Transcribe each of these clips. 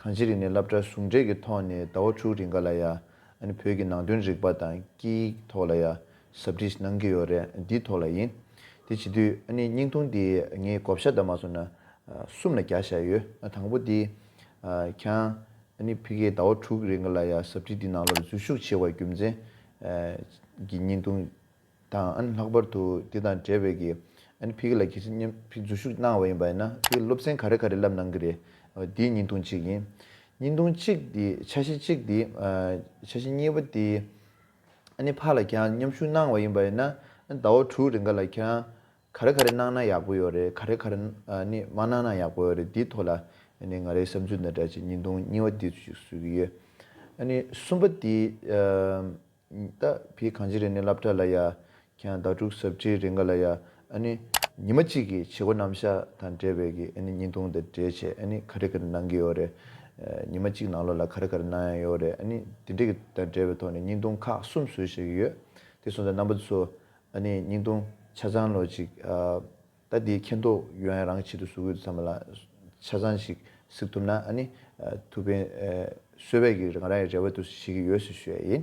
གང་ཅི་རིགས་ནས་བསླབ་གྲྭ་ཟུང་འབྲེལ་གྱི་ཐོག་ནས་ཟླ་བ་དྲུག་རིང་ག་ལ་ཡ། བོད་ཀྱི་ནང་དོན་རིག་པ་དང་སྐད་ཡིག་ཐོག་ལ་ཡ། ཟབ་འདྲིས་གནང་གི་ཡོད་རེད་འདི་ཐོག་ལ་ཡིན། དེ་བྱེད་དུས་སྙིང་ཐུང་དེ་ངས་བསྒོ་བཤའ་ལྟར་མ་སོང་ན། གསུམ་ལ་བརྒྱ་བཞག་ཡོད་དང་པོ་དེ། ཁྱང། ཕི་ཀའི་ཟླ་བ་དྲུག་རིང་ག་ལ་ཡ་ཟབ་འདྲིས་འདི་ནང་ལོར་འཛུལ་ཞུགས་བྱས་བ་རྒྱུ་མཚན། གྱི་སྙིང་ཐུང། དང་ལྷག་པར་དུ་དེ་དང་འབྲེལ་བའི་གི་ཕི་གི་ལ་གི་སི་ཉམས་ཕི་འཛུལ་ཞུགས་གནང་བ་ཡིན་པ་ཡིན་ན་ཕི་གི་སློབ་ཚན་ག་རེ་ག་རེ་བསླབ་གནང་གི་རེད་འདི་སྙིང་ཐུང་གཅིག་ཡིན། སྙིང་ཐུང་གཅིག་དེ་ཆ་བཞི་གཅིག་དེ་ཆ་བཞི་གཉིས་པ་དེ་ཨནི་ཕ་ལ་ཁྱེད་རང་ཉམས་ཞུགས་གནང་བ་ཡིན་པ་ཡིན་ན་ཟླ་བ་དྲུག་རེ་འགའ་ལ་ཁྱེད་རང་ག་རེ་ག་རེ་གནང་ན་ཡག་པོ་ཡོད་རེད་ག་རེ་ག་རེ་ནི་མ་གནང་ན་ཡག་པོ་ཡོད་རེད་དེའི་ཐོག་ལ་ཨནི་ང་རའི་བསམ་ཚུལ་འདི་འདྲ་གཅིག་སྙིང་ཐུང་གཉིས་པ་དེ་ཅིག་ཟུར་གི་ཡོད་ཨནི་གསུམ་པ་དེ། ད་བི་གངས་ཅི་རེ་ནི་སླབ་གྲ་ལ་ཡ། ཁྱང་ད་དྲུག་ཟབ་ཁྲིའི་རེ་འགའ་ལ་ཡ། ཨ་ནི། ཉི་མ་གཅིག་གི་བྱེད་སྒོ་རྣམ་གཞག་དང་འབྲེལ་བའི་གི་ཨ་ནི་ཉིན་ཐུང་དང་འབྲེལ་བྱས་ཨ་ནི་ག་རེ་ག་རེ་གནང་གི་ཡོད་རེད། ཉི་མ་གཅིག་ནང་ལོ་ལ་ག་རེ་ག་རེ་གནང་ཡང་ཡོད་རེད་ཨ་ནི་དེ་འདྲི་གི་དང་འབྲེལ་བའི་ཐོག་ནས་ཉིན་ཐུང་ཁག་གསུམ་བཟོས་བྱས་གི་ཡོད། དེ་སོང་ཙང་རྣམ་པ་ཚོ་ཨ་ནི་ཉིན་ཐུང་ཆ་ཚང་ལོ་གཅིག་ཨ། ད་དེའི་མཁྱེན་རྟོགས་ཡོན་རང་ཆེད་དུ་གཟུགས་ཡོད་དུ་ཚང་མ་ལ་ཆ་ཚང་ཞིག་གཟིགས་ཐུབ་ན་ཨ་ནི་ཐུབ་པའི་གསོལ་བས་ཀྱི་ང་རང་ཡི་རེ་བ་དུ་ཞིག་གི་ཡོད་ཞུ་ཞོད་ཡིན་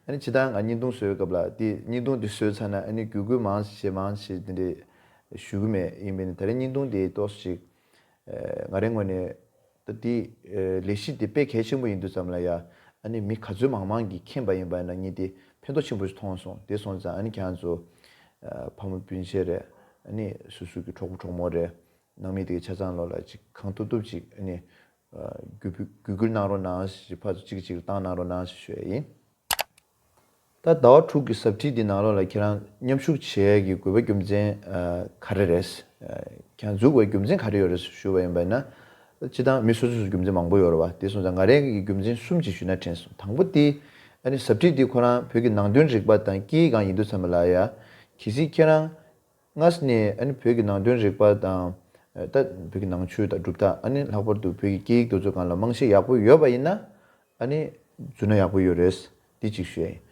ཨ་ནི་ཇི་ལྟར་ང་སྙིང་སྟོང་གསོལ་བའི་སྐབས་ལ་དེ་སྙིང་སྟོང་དེ་གསོལ་ཚར་ན་ཨ་ནི་གུས་བཀུར་མང་ཞེ་མང་ཞེ་དེ་འདྲས་ཞུ་གི་མེད་ཡིན་པས་ནི་ད་རེས་སྙིང་སྟོང་དེ་རྟོགས་སུ་ཞིག་ང་རེ་ངོས་ནས་ད་དེ་ལས་གཞི་དེ་དཔེ་གལ་ཆེན་པོ་ཡིན་འདུག་ཙམ་ལ་ཡ་ཨ་ནི་མི་ག་ཚོད་མང་མང་གིས་མཁྱེན་པ་ཡིན་པ་ན་ཉིད་དེ་ཕན་ཐོག་ཆེན་པོ་ཞིག་མཐོང་སོང་དེ་སོང་ཙང་ཨ་ནི་གྱང་ཚོ། ཕ་མོ་སྤུན་མཆེད་རེད་ཨ་ནི་སུ་སུ་གི་གྲོགས་པོ་གྲོགས་མོ་རེད་ནང་མི་དེ་གི་ཆ་ཚང་ལོག་ལ་ཅིག་གང་ཐུབ་ཐུབ་ཅིག་ཨ་ནི། གུས་བཀུར་གནང་རོགས་གནང་ཞེས་ཕ་ཚོ་གཅིག་གིས་གཅིག་ལ་བཏང་གནང་རོགས་གནང་ཞེས་ཞུ་ཡ་ཡིན། ད་ཟླ་བ་དྲུག་གི་ཟབ་ཁྲིད་འདི་ནང་ལོགས་ལ་ཁྱེད་རང་མཉམ་ཞུགས་བྱེད་ཀྱི་དགོས་པའི་རྒྱུ་མཚན་ག་རེ་རེད། ཁྱེད་རང་འཛུགས་པའི་རྒྱུ་མཚན་ག་རེ་ཡོད་རེད་ཞུས་པ་ཡིན་པ་ཡིན་ན། སྤྱི་སྟངས་མི་སོ་སོ་སུ་རྒྱུ་མཚན་མང་པོ་ཡོད་རེད་བ། དེ་སོང་ཙང་ང་རེ་འགས་ཀྱི་རྒྱུ་མཚན་གསུམ་གཅིག་ཞུས་ན་དྲན་སོང་དང་པོ་དེ། ཨ་ནི་ཟབ་ཁྲིད་འདི་ཁོ་རང་བོད་ཀྱི་ནང་དོན་རིག་པ་དང་སྐད་ཡིག་གང་ཡིན་དུ་ཚང་མ་ལ་ཡ། གལ་སྲིད་ཁྱེད་རང། སྔར་ནས་ཨ་ནི་བོད་ཀྱི་ནང་དོན་རིག་པ་དང། ད་བོད་ཀྱི་ནང་ཆོས་དང་གྲུབ་མཐའ་ཨ་ནི་ལྷག་པར་དུ་བོད་ཀྱི་སྐད་ཡིག་དུ་ཚོད་གང་ལ་རྨང་གཞི་ཡག་པོ་ཡོད་པ་ཡིན་ན་ཨ་ནི་རྫུན་ན་ཡག་པོ་ཡོད་རེད། འདི་གཅིག་བཤད་ཡིན།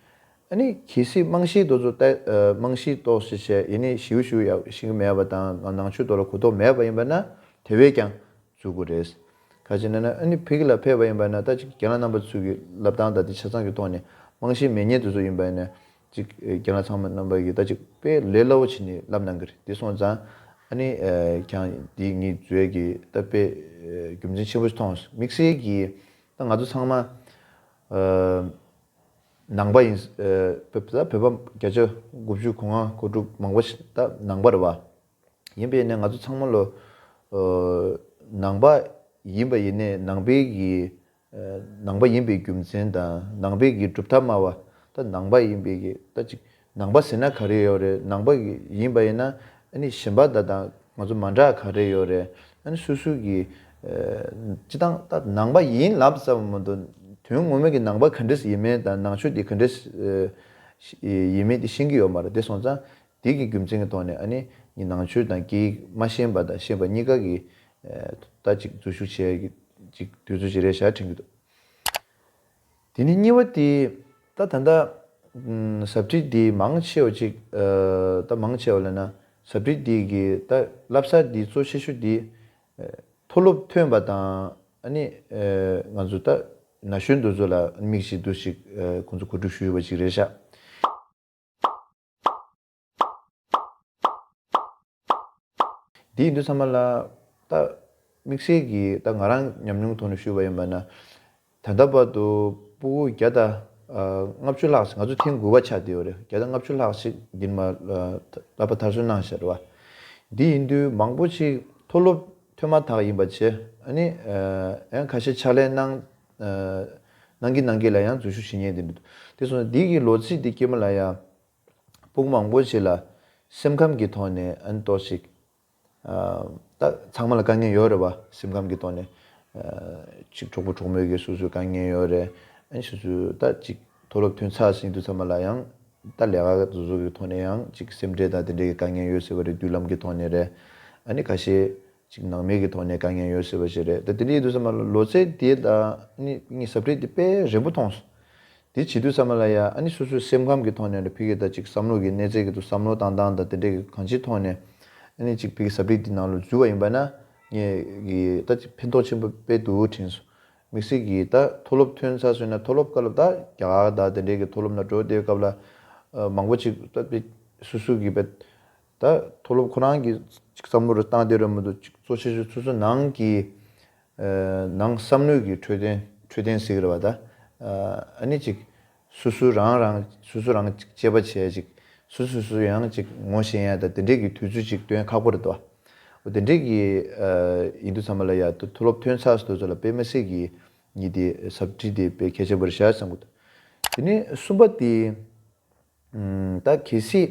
ཨ་ནི་གལ་སྲིད་རྨང་གཞིའི་དོ་ཚོད་ལྟ་རྨང་གཞིའི་གཏོགས་བྱེད་བྱས་ཡེ་ནས་ཞིའུ་ཞིའུ་ཡག་ཤིང་གི་མེད་པ་དང་ང་ནང་ཆོས་དོ་ལ་གོ་རྟོགས་མེད་པ་ཡིན་པ་ན་དེ་བས་ཀྱང་བརྩོད་དགོས་རེད། ག་ཅེ་ན་ན་ཨ་ནི་བོད་ཀྱི་ལ་ཕེབས་པ་ཡིན་པ་ན་ད་ཅིག་རྒན་ལ་རྣམ་པ་ཚུལ་གྱི་ལབ་སྟངས་དང་དེ་ཆ་ཚང་གི་ཐོག་ནས་རྨང་གཞིའི་མེད་ཉེས་དུ་ཚོད་ཡིན་པ་ནས་ཅིག་རྒྱ་ནག་ཚང་མ་རྣམ་པ་ཡོད་ད་ཅིག་པས་ལས་སླ་བོ་བྱས་ནས་ལབ་གནང་གི་རེད་དེ་སོང་ཙང་ཨ་ནི་ཁྱང་འདིས་ངིས་བཟོས་གི་ད་པས་རྒྱུ་མཚན་ཆེན་པོ་ཞིག་ཐོང་སོང་དམིགས་བསལ་གི་ད་ང་ཚོ་ཚང་མ་ནང་པ་ཡིན་བོད་པ་བརྒྱ་ཆ་དགུ་བཅུ་གོ་ལྔ་གོ་དྲུག་མང་པོ་ཞིག་ད་ནང་པ་རེད་བ་ཡིན་པས་ནས་ང་ཚོ་ཚང་མ་ལོ་ནང་པ་ཡིན་བ་ཡིན་ནས་ནང་པའི་གི་ནང་པ་ཡིན་པའི་རྒྱུ་མཚན་དང་ནང་པའི་གི་གྲུབ་མཐའ་སྨྲ་བ་ད་ནང་པ་ཡིན་པའི་གི་ད་ཅིག་ནང་པ་ཟེར་ན་ག་རེ་ཡོད་རེད་ནང་པ་གི་ཡིན་པ་ཡིན་ན་ཨཱ་ནི་གཞན་པ་ད་དང་ང་ཚོ་མ་འདྲ་ག་རེ་ཡོད་རེད་ཨཱ་ནི་སུ་སུ་གི་སྤྱི་སྟངས་ད་ནང་པ་ཡིན་ལབ་ཙམ་མ་མདོ་དོན་ངོ་མ་གི་ནང་པ་ག་འདྲེས་ཡིན་མིན་དང་ནང་ཆོས་དེ་ག་འདྲེས་ཡིན་མིན་དེ་ཤེས་གི་ཡོད་མ་རེད་དེ་སོང་ཙང་དེ་གི་རྒྱུ་མཚན་གི་ཐོག་ནས་ཨ་ནེ་ཉིད་ནང་ཆོས་དང་སྐད་ཡིག་མ་ཤེས་པ་དང་ཤེས་པ་གཉིས་ཀ་གི་ལྟ་ཅིག་འཛུལ་ཞུགས་བྱས་ཀྱི་ཅིག་དུས་ཚོད་ཅིག་རེད་ཞག་དྲན་གྱི་འདུག་དེ་ནི་གཉིས་པ་དེ་ད་ད་ལྟ་ཟབ་ཁྲིད་འདི་མང་ཆེ་བ་ཅིག་ད་མང་ཆེ་བ་ལ་ན་ཟབ་ཁྲིད་འདི་གི་ད་བསླབ་ས་འདི་གཙོ་ཆེ་ཤོས་འདི་མཐོ་སློབ་ཐོན་པ་དང་ཨ་ནེ་ང་ཚོ་ད་ན་གཞོན་འདུ་ཚོ་ལ་མིག་ཞིག་འདུ་ཞིག་ཁོང་ཚོ་གོ་སྒྲིག་ཞུས་ཡོད་པ་ཅིག་རེད་ཞག་འདི་ཡིན་དུ་བསམ་པ་ལ། ད། དམིགས་བསལ་གྱིས་ད་ང་རང་ཉམས་མྱོང་ཐོག་ནས་ཞུས་པ་ཡིན་པ་ན། ད་ལྟ་བར་དུ་སྤུ་གུ་བརྒྱ་དང་ལྔ་བཅུ་ལྷག་ང་ཚོ་ཐེངས་དགུ་བ་ཆགས་བསྡད་ཡོད་རེད། བརྒྱ་དང་ལྔ་བཅུ་ལྷག་ཅིག་འདིར་མ་ལབ་པ་ཐར་སོན་གནང་ཞེས་པ། འདི་ཡིན་དུས་མང་པོ་ཅིག་མཐོ་སློབ་ཐོན་མ་ཐག་ཡིན་པ་བཅས། ཨ་ནི། ཁ་ཤས་ཕྱག་ལས་གནང། ནང་གི་ནང་གི་ལ་ཡང་རྫུན་ཤུགས་ཇི་སྙེད་ལྡན་འདུག་དེ་སོང་ཟིག་འདི་གི་ལོ་ཚིགས་འདི་སྐྱེས་མ་ལ་ཡང་ཕུགས་མང་པོ་ཞིག་ལ་སེམས་ཁམས་ཀྱི་ཐོག་ནས་ཨན་ཏོ་ཞིག་ད་ཚང་མ་ལ་དཀའ་ངལ་ཡོད་རེད་བ་སེམས་ཁམས་ཀྱི་ཐོག་ནས་ཅིག་གྲོགས་པོ་གྲོགས་མོས་ཀྱི་སོ་སོའི་དཀའ་ངལ་ཡོད་རེད་ཨན་ཞུ་སུ་ད་ཅིག་མཐོ་སློབ་ཐོན་ཚར་ཟིག་འདུག་ཚང་མ་ལ་ཡང་ད་ལས་ཀ་བཟོ་བཟོ་གི་ཐོག་ནས་ཡང་ཅིག་སེམས་ཁྲལ་དང་དེ་འདྲའི་གི་དཀའ་ངལ་ཡོད་ཟེར་བ་རེད་དུས་ལམ་གི་ཐོག་ནས་རེད་ཨ་ནི་ག་ཤེད། ཅིག་ནང་མི་གི་ཐོག་ནས་དཀའ་ངལ་ཡོད་སྲིད་པ་ཞིག་རེད་ད་དེ་ནས་ཡིན་དུས་ས་མ་ལོ་ཚད་དེ་ད་ནི་ཟབ་འཁྲིད་དེ་དཔེ་རིང་པོ་མཐོང་སོང་དེ་བྱེད་དུས་ས་མ་ལ་ཡ་ཨ་ནི་སོ་སོའི་སེམས་ཁམས་གི་ཐོག་ནས་རེད་ཕི་གི་ད་ཅིག་བསམ་བློ་གི་གནས་ཚད་གི་ཏུ་བསམ་བློ་བཏང་སྟངས་ད་དེ་འདྲས་གི་གང་ཅིའི་ཐོག་ནས་ཨ་ནི་ཅིག་ཕི་གི་ཟབ་འཁྲིད་དེ་ནང་ལོ་འཛུལ་བ་ཡིན་པ་ན་ངས་གི་ད་ཅིག་ཕན་ཐོག་ཆེན་པོ་དཔེ་དུ་དྲན་སོང་མིག་སེར་གི་ད་མཐོ་སློབ་ཐོན་ཚར་སོན་ན་མཐོ་སློབ་དཀའ་སློབ་ད་རྒྱ་གར་ད་དེ་འདྲས་གི་མཐོ་སློབ་ན་འགྲོ་བསྡད་སྐབས་ལ་མང་པོ་ཅིག་ད་ཕི་སུ་སུ་གི་པད་ད་མཐོ་སློབ་ཁོ་རང་གིས་ཅིག་བསམ་བློ་རེ་བཏང་བསྡད་རོལ་མོ་འདུག་ཅིག་གཙོ་ཆེ་ཤོས་ཚོད་ཚོད་ནང་གི་ནང་བསམ་བློས་གི་འཕྲོད་བསྟེན་འཕྲོད་བསྟེན་ཟིག་རེད་བ་ད་ཨཱནི་ཅིག་སུ་སུ་རང་རང་སུ་སུ་རང་ཅིག་དཔྱད་པ་བྱས་ཅིག་སུ་སུ་སུ་ཡང་ཅིག་ངོ་ཤེས་ཡ་ད་དེ་འདྲས་གི་དུས་ཚོད་ཅིག་སྟོན་ཁག་པོ་རེད་བ་འོ་དེ་འདྲས་གི་ཡིན་འདུག་ཚང་མ་ལ་ཡ་ད་མཐོ་སློབ་ཐོན་ཚགས་སྡོད་ཚོ་ལ་དཔེ་མི་སྲིད་གི་གཉིས་དེ་ཟབ་ཁྲིད་དེ་དཔེ་གལ་ཆེན་པོ་རེད་ཤག་བསམ་གོ་ད་དེ་ནས་གསུམ་པ་དེ་ད་གལ་སྲིད་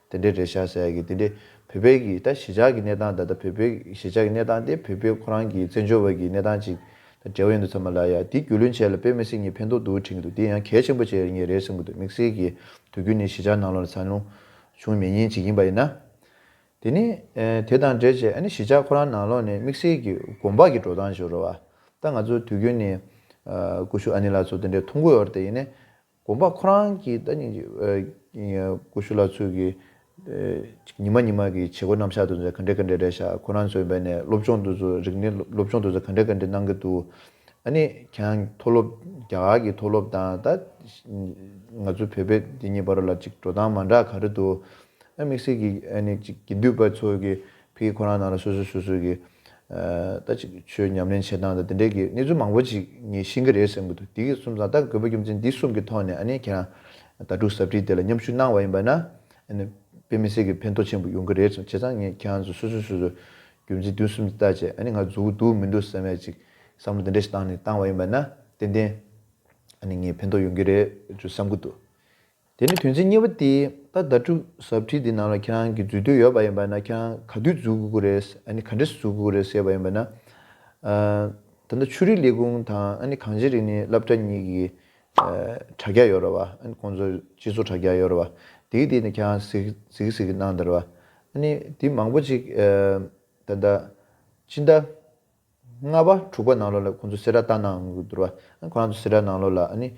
དེ་འདྲའི་རེད་ཤ་ཟ་ཡ་གི་དེ་འདྲའི་བོད་པའི་གི་ད་གཞི་ཆགས་གི་གནས་སྟངས་ད་ལྟ་བོད་པའི་གཞི་ཆགས་གི་གནས་སྟངས་དེ་བོད་པའི་ཁོ་རང་གི་བཙན་བྱོལ་བ་གི་གནས་སྟངས་ཅིག་དང་འདྲ་བ་ཡིན་འདུག་ཚ་མ་ལ་ཡ་དེ་རྒྱུས་ལོན་བྱས་ལ་དཔེ་མི་སྲིད་གཉིས་ཕན་ཐོག་འདུག་དྲན་གི་འདུག་དེ་ཡང་གལ་ཆེན་པོ་བྱས་ངེས་རེད་སེམས་གི་འདུག་དམིགས་བསལ་གི་དུས་རྒྱུན་ནས་གཞི་ཆགས་ནང་ལོག་ལ་ཚ་ལུང་ཆུང་མེད་ཉིན་གཅིག་ཡིན་པ་ཡིན་ན། དེ་ནི་དེ་དང་འབྲེལ་བྱས་ཨ་ནི་གཞི་ཆགས་ཁོ་རང་ནང་ལོག་ནས་དམིགས་བསལ་གི་གོམ་པག་གི་འགྲོ་སྟངས་ཞིག་རོ་བ་ད་ང་ཚོ་དུས་རྒྱུན་ནས་ཀུ་ཤུ་ཨ་ནི་ལགས་ཚོ་དེ་འདྲའི་ཐུགས་མགོ་ཡོར་ཏེ་ཡིན་ནས་དགོངས་པ་ཁོ་རང་གི་ད་ཉིན་གྱི་ཀུ་ཤུ་ལགས་ཚུལ་གྱི་ཉི་མ་ཉི་མ་གྱི་བྱེད་སྒོ་རྣམ་གཞག་དུ་ག་འདྲས་ག་འདྲས་རེད་ཤག་ཁོ་རང་ཚོའི་འབད་ནས་སློབ་སྦྱོང་དུ་ཚོ་རིག་གནས་སློབ་སྦྱོང་དུ་ཚོ་ག་འདྲས་ག་འདྲས་གནང་གི་འདུག་ཨ་ནི་གྱང་མཐོ་སློབ་རྒྱ་གར་གྱི་མཐོ་སློབ་དང་ད་ང་ཚོའི་བོད་པའི་འདི་གཉིས་བར་ལ་ཅིག་འགྲོ་སྟངས་མ་འདྲ་ག་རེ་འདུག་ཨ་དམིགས་བསལ་གྱི་ཨ་ནི་ཅིག་དགེ་འདུས་པ་ཚོ་གི་ཕིག་ཁོ་རང་ནང་ལ་སོ་སོས་སོ་སོའི་གི། ད་ཅིག་ཆོས་ཉམས་ལེན་བྱེད་སྟངས་དང་དེ་འདྲའི་གི་གནས་ཚུལ་མང་པོ་ཅིག་ངས་ཤེས་ཀྱི་རེད་བསམ་གྱི་འདུག་དེ་གི་གསུམ་ཟང་ཐག་རྒོད་པོ་རྒྱུ་མཚན་འདི་གསུམ་གི་ཐོག་ནས་ཨ་ནེ་ཁྱེད་རང་ད་ཀྲུག་ཟབ་ཁྲིད་དེ་ལ་མཉམ་ཞུགས་གནང་བ་ཡིན་པ་ན་ཨ་ནེ་དཔེ་མི་སྲིད་གི་ཕན་ཐོག་ཆེན་པོ་ཡོང་གི་རེད་བསམ་བྱས་ཙང་ངས་ཁྱེད་རང་ཚོ་སོ་སོས་སོ་སོའི་རྒྱུ་མཚན་དུས་གསུམ་གྱི་ལྟ་བྱས་ཨ་ནེ་ང་རྫུག་གི་འདུག་མི་འདུག་བསམ་ཡས་ཅིག་བསམ་བློ་དེ་འདྲས་ཞིག་བཏང་ནས་བཏང་བ་ཡིན་པ་ན་ཏན་ཏན་ཨ་ནེ་ངས་ཕན་ཐོག་ཡོང་གི་རེད་ཅུ་བསམ་གྱི་འདུག། དེ་ནི་དོན་ཚན་གཉིས་པ་སྟེ། ད་ལྟ་ཁྲུ་ཟབ་ཁྲིད་འདི་ནང་ལ་ཁྱེད་རང་གིས་འཛུལ་འདོད་ཡོད་པ་ཡིན་པ་ན་ཁྱེད་རང་ག་དུས་འཛུལ་དགོས་ཀྱི་རེད་ཨ་ནི་ག་འདྲས་སུ་འཛུལ་དགོས་ཀྱི་རེད་ཟེར་བ་ཡིན་པ་ན། ད་ལྟ་ཆོས་རིག་ལས་ཁུངས་དང་ཨ་ནི་གངས་ཅན་རིག་གནས་བསླབ་གྲྭ་གཉིས་ཀྱི་དྲ་རྒྱ་ཡོད་རེད་བ། ཨ་ནི་ཁོང་ཚོ་སྤྱི་ཚོགས་དྲ་རྒྱ་ཡོད་རེད་བ། དེའི་སྟེང་ནས་ཁྱེད་རང་གཟིགས་གཟིགས་གནང་དེར་བ། ཨ་ནི་དེ་མང་པོ་ཅིག་ད་ལྟ་ཕྱི་ཟླ། ལྔ་པ་དྲུག་པ་ནང་ལོགས་ལ་ཁོང་ཚོ་སེར་ར་བཏང་ནའང་མི་འགྱུར་བ། ཁོ་རང་ཚོ་སེར་ར་ནང་ལོགས་ལ་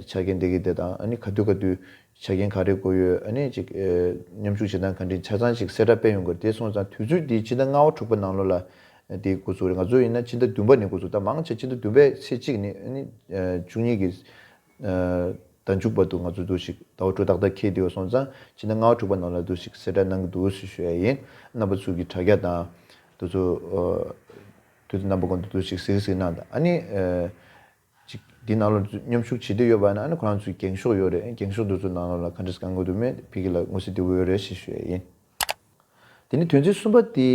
ཆ་རྐྱེན་དེ་གི་དེ་དང་ག་དུས་ག་དུས་ཆ་རྐྱེན་ག་རེ་དགོས་ཡོད་ཅིག་མཉམ་ཞུགས་བྱེད་སྟངས་ག་འདྲི་ཆ་ཚང་ཞིག་སེར་ར་སྤེལ་ཡོང་དགོས་རེད་དེ་སོང་ཙང་དུས་ཚོད་དེ་ཕྱི་ཟླ་ལྔ་བ་དྲུག་པ་ནང་ལོགས་ལ་དེ་འགོ་ཚུགས་རེད་ང་ཚོ་ཡིན་ན་ཕྱི་ཟླ་བདུན་པ་ནས་འགོ་ཚུགས་ད་མང་ཆེ་ཕྱི་ཟླ་བདུན་པའི་ཚེས་གཅིག་ནས་བཅུ་གཉིས་ཀྱི་ཟླ་མཇུག་བར་དུ་ང་ཚོ་འདུག་ཤིག་ཟླ་བ་དྲུག་ཏག་ཏག་འཁེལ་དུས་སོང་ཙང་ཕྱི་ཟླ་ལྔ་བ་དྲུག་པ་ནང་ལ་འདུག་ཤིག་གསེར་སྒྲ་གནང་གི་འདུག་ཟེར་ཤོད་ཡ་ཡིན་རྣམ་པ་ཚུལ་གྱི་དྲ་རྒྱ་དང། དུས་ཚོད་དུས་ཚོད་རྣམ་པ་གོང་དུ་འདུག་ཤིག་ཟིག་ཟིག་གནང་དང་ཨ་ནི། ཅིག་དེ་ནང་ལ་མཉམ་ཞུགས་བྱེད་འདོད་ཡོད་པ་ན་ཨ་ནི་ཁོ་རང་ཚོའི་འགེངས་ཤོག་ཡོད་རེད་འགེངས་ཤོག་འདི་ཚོ་ནང་ལ་ག་འདྲས་གང་དགོས་འདུག་མེད་ཕི་ཀི་ལ་དངུལ་སེ་འདི་བོ་ཡོད་རེད་ཞེས་ཤོད་ཡ་ཡིན། དེ་ནི་དོན་ཚན་གསུམ་པ་དེ།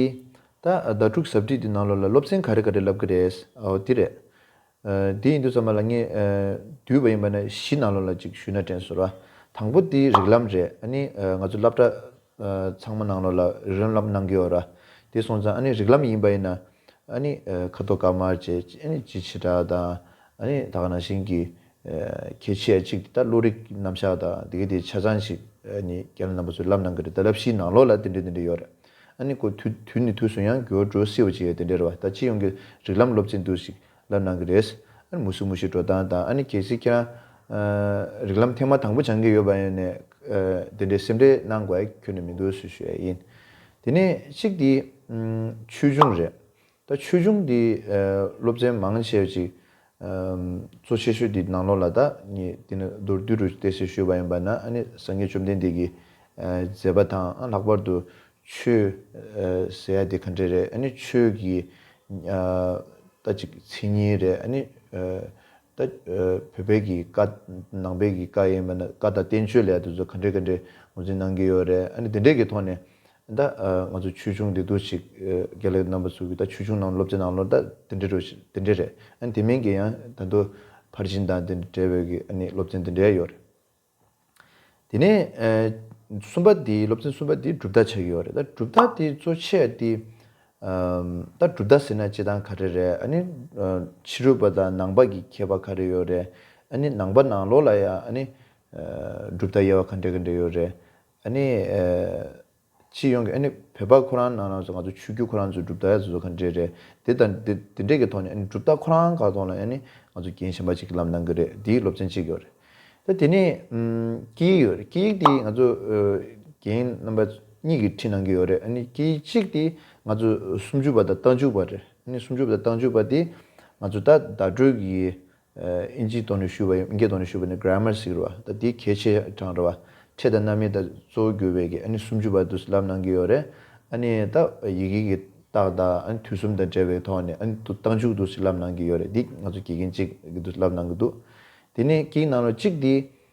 ད་ཟླ་དྲུག་གཟབ་སྒྲིག་འདི་ནང་ལ་ལ་སློབ་ཚན་ག་རེ་ག་རེ་ལབ་གི་རེད། འོ་དེ་རེད། དེ་ཡིན་དུས་ཚང་མ་ལ་ངས་བསྡུས་པ་ཡིན་པ་ནས་གཞི་ནང་ལོ་ལ་ཅིག་ཞུས་ན་དྲན་སོ། དང་པོ་དེ་རིགས་ལམ་རེད་ཨ་ནི་ང་ཚོ་སླབ་གྲ་ཚང་མ་ནང་ལོ་ལ་རི་རོན་ལམ་གནང་གི་ཡོད་ར་དེ་སོང་ཙང་ཨ་ནི་རིགས་ལམ་ཡིན་པ་ཡིན་ན་ཨ་ནི་ཁ་དོག་དཀར་དམར་བཅས་ཨ་ནི་སྤྱི་བྱེ་བྲག་དང་ཨ་ནི་ད་ག་ནང་བཞིན་གྱི་གལ་ཆེ་ཡ་ཅིག་དེ་དག་བློ་རིག་རྣམ་གཞག་དང་དེ་གའི་དེ་ཆ་ཚང་ཞིག་ཨ་ནི་རྒྱ་ནང་ནང་པ་ཚོས་ལབ་གནང་གི་རེད་ད་སླབ་གཞི་ནང་ལོ་ལ་དེ་འདྲའི་དེ་འདྲའི་ཡོད་རེད། ཨ་ནི་ཀོ། དུས་ནི་དུས་སུ་ཡང་འགྱུར་བ་འགྲོ་སྲིད་བ་ཅི་ཡོད་དེ་འདྲའི་རེ་བ་དང་སྤྱི་ཡོངས་ཀྱི་རིགས་ལམ་སློབ་ཆེན་དུ་ཞིག་ལ་གནང་གི་རེད། ཨ་ནི་མུ་སུ་མུ་ཞིག་འགྲོ་སྟངས་དང་ཨ་ནི་གལ་སྲིད་ཁྱེད་རང། རིགས་ལམ་ཐེངས་མ་དང་པོ་སྦྱང་གི་ཡོད་པ་ཡིན་ནས། དེ་འདྲའི་སེམས་ཁྲལ་གནང་དགོས་ཀྱི་ནི་མི་འདུག་ཟེར་ཞོད་ཡིན། དེ་ནི་གཅིག་དེ། ཆོས་འབྱུང་རེད། ད་ཆོས་འབྱུང་འདི་སློབ་ཚན་མང་བྱས་པ་ཅིག་གཙོ་ཆེ་ཤོས་འདི་ནང་ལོག་ལ་ད་ངས་འདི་ནི་མདོར་བསྡུས་རུ་གཏད་སའི་ཤོད་པ་ཡིན་པ་ན་ཨ་ནི་སངས་རྒྱས་བཅོམ་ལྡན་འདས་ཀྱིས་མཛད་པ་དང་ལྷག་པར་དུ་ཆོས་ཟེར་ཡ་དེ་ག་འདྲས་རེད་ཨ་ནི་ཆོས་ཀྱི་ད་ཅིག་མཚན་ཉིད་རེད་ཨ་ནི་ད་བོད་པའི་གི་བཀའ་ནང་པའི་གི་བཀའ་ཡིན་པ་ན་བཀའ་དང་བསྟན་བཅོས་ལས་དེ་ཚོ་ག་འདྲས་ག་འདྲས་ངོས་འཛིན་གནང་གི་ཡོད་རེད་ཨ་ནི་དེ་འདྲས་ཀྱི་ཐོག་ནས་ད་ང་ཚོ་ཆོས་ཆུང་འདི་དུ་ཞིག་རྒྱ་ལས་རྣམ་པ་ཚུགས་ཀྱི་ད་ཆོས་ཆུང་ནང་སློབ་ཆེན་ནང་ལོར་ད་དེ་འདྲ་དེ་འདྲ་རེད་ཨ་ནི་དེ་མིན་གྱི་ཡང་ད་དུ་ཕར་ཕྱིན་དང་དེ་འདྲ་བའི་གི་ཨ་ནི་སློབ་ཚན་དེ་འདྲ་ཡང་ཡོད་རེད། དེ་ནས་གསུམ་པ་དེ་སློབ་ཚན་གསུམ་པ་དེ་གྲུབ་མཐའ་ཆགས་ཀྱི་ཡོད་རེད་ད་གྲུབ་མཐའ་དེ་གཙོ་ཆེ་དེ་ད་གྲུབ་མཐའ་ཟེར་ན་སྤྱི་དང་ག་རེ་རེད་ཨ་ནི་ཕྱི་རུ་བ་དང་ནང་པ་གི་ཁྱད་པར་ག་རེ་ཡོད་རེད་ཨ་ནི་ནང་པ་ནང་ལོགས་ལ་ཡང་ཨ་ནི་གྲུབ་མཐའ་དབྱེ་བ་ག་འདྲ་ག་འདྲ་ཡོད་རེད་ཨ་ནི། སྤྱི་ཡོངས་ཀྱི་ཨ་ནི་བོད་པ་ཁོ་རང་ནང་ནང་སུ་ང་ཚོ་ཆོས་བརྒྱུད་ཁོ་རང་ཚོའི་གྲུབ་མཐའ་ཡ་ཟུ་ཟུ་ག་འདྲེ་རེད་དེ་དང་དེ་དེ་འདྲེ་གི་ཐོག་ནས་ཨ་ནི་གྲུབ་མཐའ་ཁོ་རང་ག་ཐོག་ལ་ཨ་ནི་ང་ཚོ་རྒྱན་ཞེན་པ་ཅིག་གི་ལམ་ནང་གི་རེད་དེའི་སློབ་ཚན་གཅིག་ཡོད་རེད་ད་དེ་ནས་སྐད་ཡིག་ཡོད་རེད་སྐད་ཡིག་དེ་ང་ཚོ་རྒྱན་རྣམ་པ་གཉིས་ཀྱི་ཁྲིད་ནང་གི་ཡོད་རེད་ཨ་ནི་སྐད་ཡིག་གཅིག་དེ་ང་ཚོ་སུམ་ཅུ་པ་དང་རྟ་མཇུག་པ་རེད་ཨ་ནི་སུམ་ཅུ་པ་དང་རྟ་མཇུག་པ་དེ་ང་ཚོ་ད་བརྡ་སྤྲོད་གི་ཨིན་ཇིའི་དོན་ནས་ཞུས་པ་ཡིན་ཨིན་སྐད་དོན་ནས་ཞུས་པ་ནི Grammar ཞིག་རེད་བ་ད་དེའི་གལ་ཆེ་གྲངས་རེད་བ་ཕྲད་དང་རྣམ་དབྱེ་དང་གཙོ་བོ་གྱུར་བའི་གི་ཨ་ནི་སུམ་ཅུ་བར་དུ་ལབ་གནང་གི་ཡོད་རེད་ཨ་ནི་ད་ཡི་གེ་གི་རྟགས་དང་ཨ་ནི་དུས་གསུམ་དང་བྲལ་བའི་ཐོག་ནས་ཨ་ནི་དུ་རྟགས་མཇུག་ཏུ་ཞིག་ལབ་གནང་གི་ཡོད་རེད་འདི་ང་ཚོ་དགེ་རྒན་གཅིག་གི་དུ་ལབ་གནང་གི་འདུག་དེ་ནས་ཀྱི་ནང་ལོ་གཅིག་དེའི་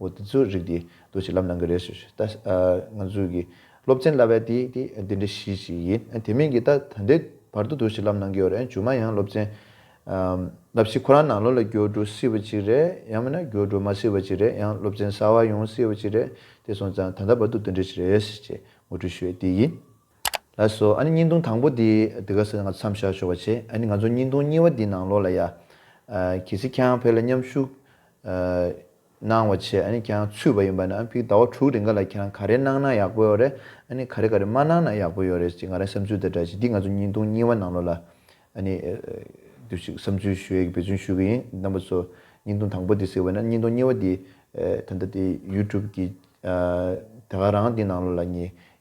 འོ་དེ་ཚོའི་རིགས་དེ་དུ་ཞིག་ལབ་གནང་གི་རེད་ཞུ་ཞུ། ད་ང་ཚོའི་གི་སློབ་ཚན་བསླབ་པའི་དེ་དེ་འདི་འདྲའི་གཞི་ཞིག་ཡིན། དེ་མིན་གི་ད་ད་འདྲའི་བར་དུ་དུ་ཞིག་ལབ་གནང་གི་ཡོད་རེད། ཇུ་མ་ཡང་སློབ་ཚན་བསླབ་གཞི་ཁོ་རང་ནང་ལོ་ལ་བསྒྱུར་འགྲོ་སྲིད་པ་ཅིག་རེད་ཡང་མིན་ན་བསྒྱུར་འགྲོ་མ་སྲིད་པ་ཅིག་རེད་ཡང་སློབ་ཚན་གསར་བ་ཡོང་སྲིད་པ་ཅིག་རེད་དེ་སོང་ཙང་ད་ལྟ་བར་དུ་འདི་འདྲའི་ཞིག་རེད་ཅེས་ངོ་སྤྲོད་ཞུ་བའི་དེ་ཡིན། ལ་སོགས་ཨ་ནི་སྙིང་དུང་དང་པོ་དེ་འདི་ག་ས་ནས་ང་ཚོ་མཚམས་བཞག་ཆོག་པ་བྱེད་ཨ་ནི་ང་ཚོ་སྙིང་དུང་གཉིས་བ་དེའི་ནང་ལོགས་ལ་ཡ། གི་སི་ཁྱང་ཕེ་ལ་མཉམ་ཞུགས། གནང་བ་བྱེད་ཨ་ནི་ཁྱང་ཚུད་པ་ཡིན་པ་ན་ཕིག་ཟླ་བ་དྲུག་རེ་འགའ་ལ་ཁྱེད་རང་ག་རེ་གནང་ན་ཡག་པོ་ཡོད་རེད་ཨ་ནི་ག་རེ་ག་རེ་མ་གནང་ན་ཡག་པོ་ཡོད་རེད་ཅེས་ང་རང་བསམ་ཚུལ་དེ་འདྲ་བྱེད་འདི་ང་ཚོ་སྙིང་དུང་གཉིས་བ་ནང་ལོགས་ལ་ཨ་ནི། དུ་ཞིག་བསམ་ཚུལ་ཞུ་ཡ་གི་འབད་བརྩོན་ཞུ་གི་ཡིན་རྣམ་པ་ཚོ་སྙིང་དུང་དང་པོ་དེ་ཟེར་བ་ན་སྙིང་དུང་གཉིས་བ་དེ། ད་ལྟ་དེ་ཡུ་ཏུབ་ཀྱི། དེ་ག་རང་དེའི་ནང་ལོགས་ལ་ངས